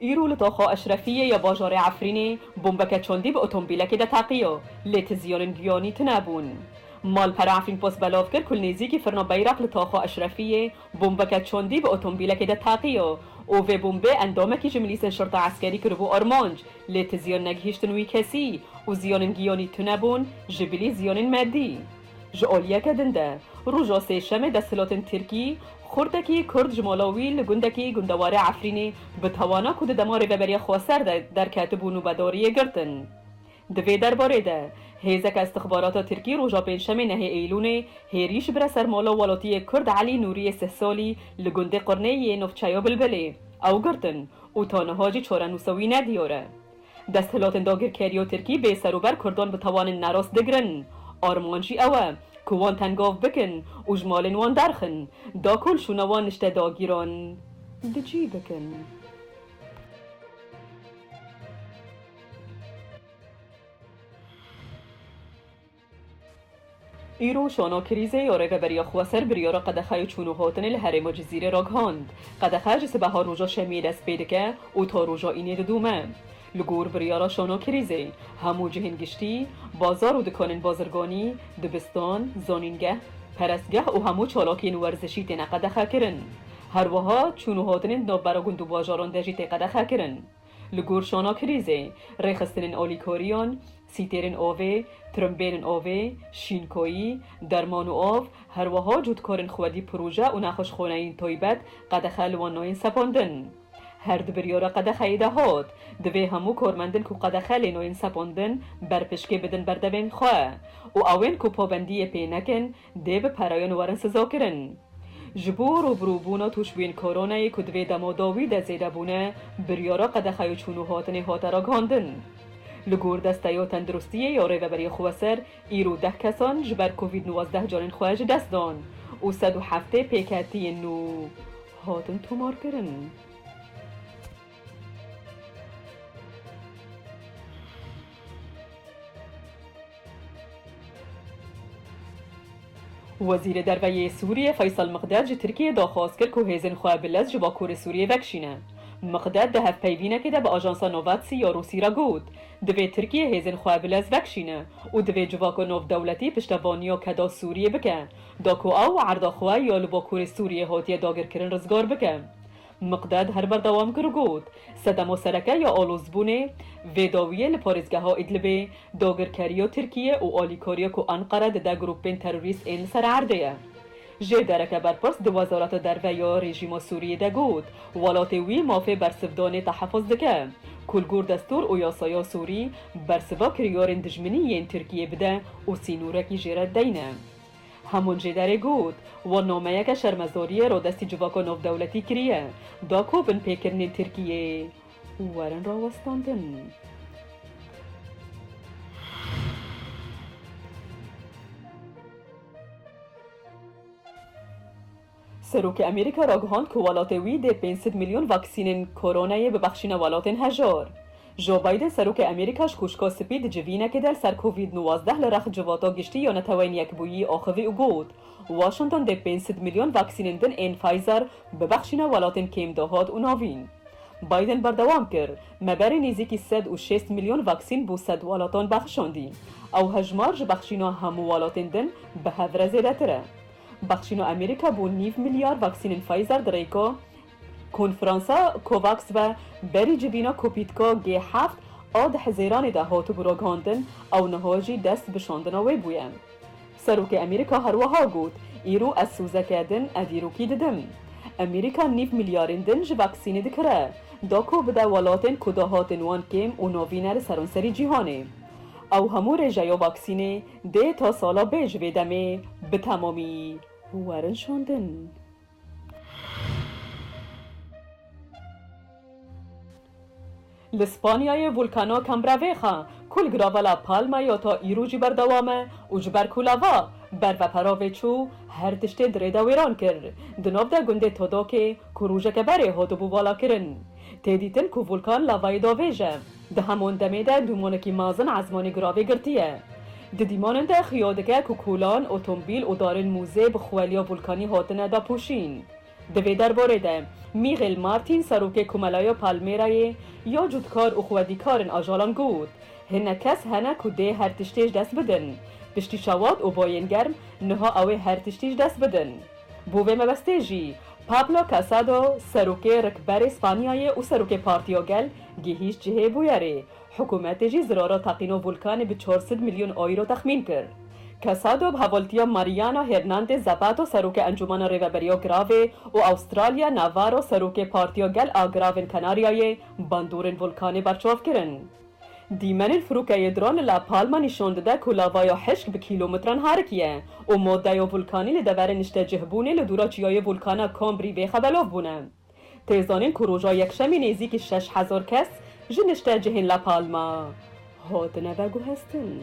Îro li doxa Eşrefiyê ya bajarê Efrînê bombeke çandî bi otombîlekê de teqiya, lê ti ziyanên giyanî tune bûn. Malpera Efrînpost belav kir ku li nêzîkî firna Beyrak li taxa Eşrefiyê bombeke çandî bi otombîlekê de teqiya û vê bombê endamekî ji milîsên şerta eskerî kiribû armanc, lê ti ziyan negihîştin wî kesî û ziyanên giyanî tune bûn, ji bilî ziyanên medî. Ji aliyeke din de, roja sêşemê desthilotên tirkî, xurtekî kurd ji mala wî li gundekî gundewarê Efrînê bi tawana ku di dema Rêveberiya Xweser de derketibû nûbedariyê girtin. Di vê derbarê de, hêzeke îstixbarata tirkî roja pêncşemê nehê Eylûnê hêrîş bire ser mala welatiyê kurd Elî Nûriyê Sihsalî li gundê Qirnê yê navçeya Bilbilê. Ew girtin û ta niha jî çarenûsa wî nediyar e. Desthilotên dagirkerî û tirkî bê ser û ber kurdan bi tawanên nerast digirin. Arman jî ew e ku wan tengav bikin û ji malên wan derxin, da ku li şûna wan nişte dagîran di cî bikin. Îro şono krîzê yo Rêveberiya Xweser biryara qedexeya çûn û hatinê li herêma Cizîrê ragihand. Qedexe ji sibeha roja şemiyê dest pê dike û ta roja înê didome. Li gor biryara şono krîzê, hemû cihên giştî, bazar û dikanên bazirganî, dibistan, zanîngeh, perestgeh û hemû çalakiyên werzişî têne qedexekirin. Herwiha çûn û hatinên di navbera gund û bajaran de jî tê qedexekirin. Li gor şana krîzê, rêxistinên olîkoriyan, sîtêrên ovê, tirimbêlên ovê, şînkoyî, derman û av, herweha cotkarên xwedî proje û nexweşxaneyên taybet qedexe li wan nayên sepandin. Her di biryara qedexeyê de hat, divê hemû karmendên ku qedexe lê nayên sepandin berpişkê bidin berdevên xwe û ewên ku pabendiyê pê nekin Dê bi pereyên werin sizokirin. Ji bo rûbirûbûna tûşbûyên koronayê ku divê demodawî de zêde bûne, biryara qedexe ya çûn û hatinê hate ragihandin. Li gor desteya tendirustiyê ya Rêveberiyê Xweser, îro deh kesan ji ber Covid nwazdeh canên xwe ji dest dan û sed û heftê pêketiyên nû hatin tomarkirin. Wezîrê Derve yê Sûriyê Feysel Miqded ji Tirkiyeyê daxwaz kir ku hêzên xwe bi lez ji Bakurê Sûriyê vekişîne. Miqded di hevpeyvînekê de bi ajansa Novatsî ya Rûsî re got, Divê Tirkiye hêzên xwe bi lez vekişîne û divê civaka navdewletî piştevaniya keda Sûriyê bike da ku ew erda xwe ya li Bakurê Sûriyê hatiye dagirkirin rizgar bike. Miqdad her berdewam kir û got, Sedem û sereke ya alozbûnê vê dawiyê li parêzgeha Îdlibê dagirkeriya Tirkiyê û alîkariya ku Enqere dide grûpên terorîst ên li ser erdê ye. Jê dereke berpirs di Wezareta Derve ya rejîma Sûriyê de got, welatê wî mafê bersivdanê tehefuz dike, ku li gor destûr û yasaya Sûrî bersiva kiryarên dijminî yên Tirkiyê bide û sînorekî jê re deyne. Hemûn jê derê got, wan nameyeke şermezoriyê ra destî civaka navdewletî kiriye, da ku bin pêkirinên Tirkiyeyê werin rawestandin. Serokê Amerîka ragihand ku welatê wî dê pênc sed milyon vaksînên koronayê bibexşîne welatên hejar. Joe Biden Serokê Amerîka ji Kûşka Spî di civînekê de li ser Covid nûwazdeh li rex Civata Giştî ya Neteweyên Yekbûyî axivî û got, Washington dê pênc sed milyon vaksînên din ên Pfizer bibexşîne welatên kêm dahat û navîn. Biden berdewam kir, Me berê nêzîkî sed û şêst milyon vaksîn bo sed welatan bexşandî. Ew hejmar ji bexşîna hemû welatên din bi hev re zêdetir e. Bexşîno Amerîka bo nîv milyar vaksînên Pfizer di rêko konferansa COVAX ve berî civîna kopîtko G heft a di hizêranê de hatibû ragihandin ew niha jî dest bi şandina wê bûye. Serokê Amerîka her wiha got, Îro ez sozeke din ev îrokî didim. Amerîka nîv milyarên din ji vaksînê dikire, dako bide welatên ku dahatên wan kêm û navîn e li seranserî cîhanê. Ew hemû rêjeya vaksînê Dê ta sala bê ji vê demê bi temamî werin şandin. Li Spanyayê Vulkana Cambreveja ku li girava La Palma ya ta îro jî berdewam e û ji ber ku lava ber ve peravê çû her tiştê di rê de wêran kir. Di nav de gundê Todokê ku rojeke berê hatibû valakirin, tê dîtin ku vulkan lavayê davêje. Di heman demê de dûmanekî mezin ezmanî giravê girtiye. Di dîmanin de xuya dike ku kolan, otombîl û darên mûzê bi xweliya volkanî hatine dapûşîn. Di vê derbarê de Mîxêl Martîn serokê Komelaya Palmêrayê ya cûtkar û xwedîkarên ajalan got, Hinek kes hene ku dê her tiştê ji dest bidin. Piştî şewat û bayên germ niha ew ê her tiştî ji dest bidin. Bo vê mebestê jî Pablo Casado, serokê rikberê Spanyayê û serokê Partiyo Gel gihîşt cihê bûyerê. Hikûmetê jî zirara teqîno Vulkanê bi çar sed milyon euro texmîn kir. Casado bi hevaltiya Mariana Hernandez Zapato serokê Encûmana Rêveberiya Giravê û Australia Navarro serokê Partiyo Gel a Giravên Kanaryayê bandorên Vulkanê berçav kirin. Dîmenên firokeyê dron li La Palma nîşan dide ku lavaya hişk bi kîlometran harikiye û madeya volkanî li deverê niştecihbûnê li dûra çiyayê volkana Cambri Vieja belav bûne. Tê zanîn ku roja yekşemî nêzîkî şeş hezar kes ji niştecihên La Palma hatine veguheztin.